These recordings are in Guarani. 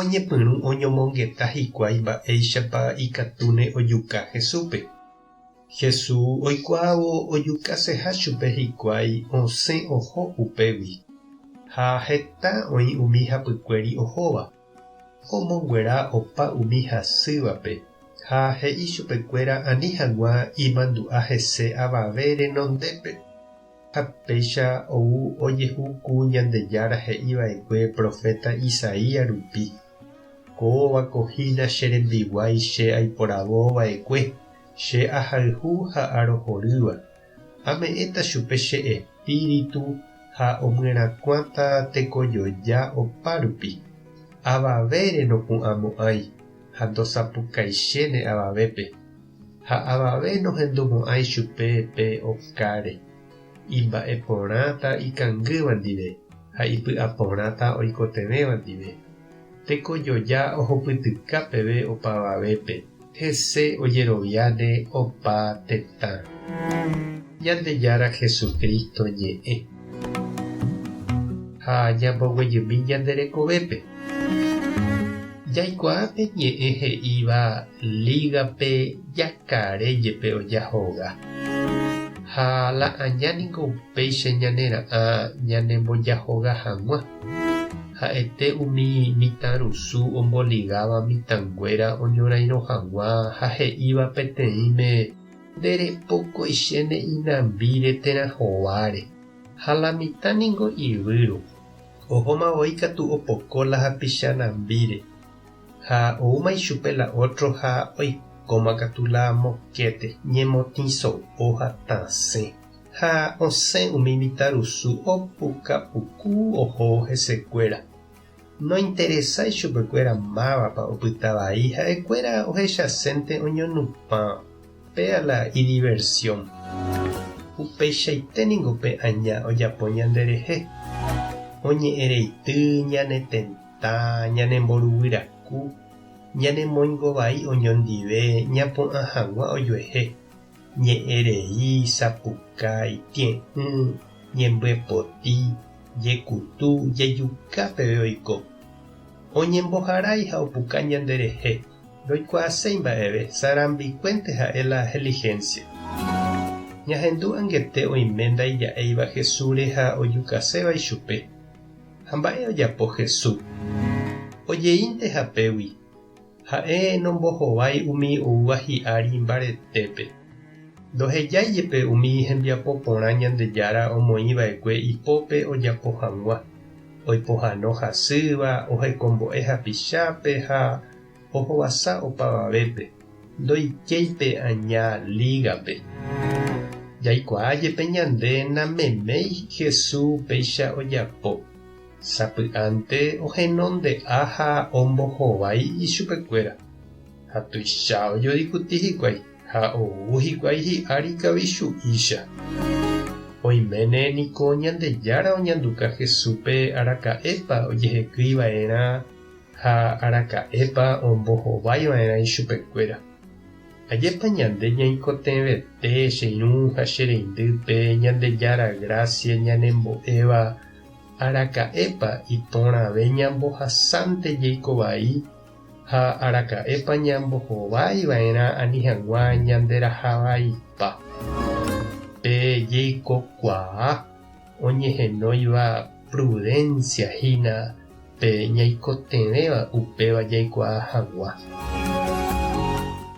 Oñepyrũ oñomongeta hikuái mba'éichapa ikatúne ojuka Jesúspe. Jesús oikuaávo ojukaseha chupe hikuái osẽ oho upégui. Ha heta oĩ umi hapykuéri ohóva. Omonguera opa umi hasývape, ha he'i chupekuéra ani hag̃ua imandu'a hese avave renondépe. Ha péicha ou ojehu ku Ñandejára he'i va'ekue proféta Isaías rupi, Kóva ko hína che rembiguái che aiporavo va'ekue, che ahayhu ha arohorýva. Ame'ẽta chupe che Espíritu ha omyerakuãta tekojoja opárupi. Avavére nopu'ãmo'ãi. ha ndosapukaiséne avavépe, ha avave nohendu mo'ãi chupe pe okáre, imba'e porãta ikangýva ndive ha ipy'a porãta oikotevẽva ndive. Tekojoja ohupytyka peve opavavépe, hese ojeroviáne opa tetã. Ñandejára Jesucristo ñe'ẽ. Ha ñamboguejymi ñande rekovépe. Jaikuaa pe ñe'ẽ he'íva Lígape jakare jepe oja hoga. Ha la aña ningo upéicha ñanera'ã ñanembojahoga hag̃ua. Ha'ete umi mitãrusu omboligáva mitãnguéra oñorairõ hag̃ua ha he'íva peteĩme, Nde repokoiche ne inambíre térã hováre, ha la mitã ningo ivýro, ohóma voi katu opoko la hapicha nambíre, ha oúma ichupe la ótro ha oikóma katu la mokéte, ñemotĩ so'o ha tasẽ. Ha osẽ umi mitãrusu opuka puku ohóvo hesekuéra. Nointeresái chupekuéra mávapa opyta vai, ha'ekuéra ohechasénte oñonupãva. Péa la idiversión. Upeichaite ningo pe aña ojapo ñanderehe. Oñe'ẽreity, ñanetentã, ñanemboruvyraku, ñanemoingovai oñondive, ñapu'ã hag̃ua ojuehe, Ñe'ẽrei, sapuka, itie'ỹ, ñembyepoti, jekutu, jejuka peve oiko. Oñemboharái ha opuka ñanderehe, ndoikuaaséi mba'eve, sarambikuénte ha'e la helihénsia. Ñahendu angete oime ndaija'éiva Jesúsre ha ojukaséva ichupe. Ha mba'e ojapo Jesús? Ojeínte hapégui. Ha'e nombohovái umi oúva hi'ári mbaretépe. Ndohejái jepe umi hembiapo porã Ñandejára omoĩ va'ekue ipópe ojapo hag̃ua, oipohano hasýva, ohekombo'e hapichápe ha ohovasa opavavépe, ndoikéi pe aña lígape. Jaikuaa jepe ñande nameméi Jesús upéicha ojapo. Sapy'ánte ohenonde'a ha ombohovái ichupekuéra. Ha tuicha ojodikuti hikuái ha ou hikuái hi'ári kavichu'ícha. Oiméne niko Ñandejára oñanduka Jesúspe araka'épa ojehekýi va'erã ha araka'épa ombohovái va'erã ichupekuéra. Ajépa ñande ñaikotevẽte che irũ ha che reindy pe Ñandejára grásia ñanembo'éva Araka'épa iporãve ñambohasánte jeiko vai ha araka'épa ñambohovái va'erã ani hag̃ua ñanderaha vaipa? Pe jeikokuaa oñehenóiva prudencia hína pe ñaikotevẽva upéva jaikuaa hag̃ua.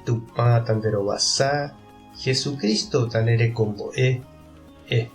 Tupã tanderovasa, Jesucristo tanderekombo'e. Ej.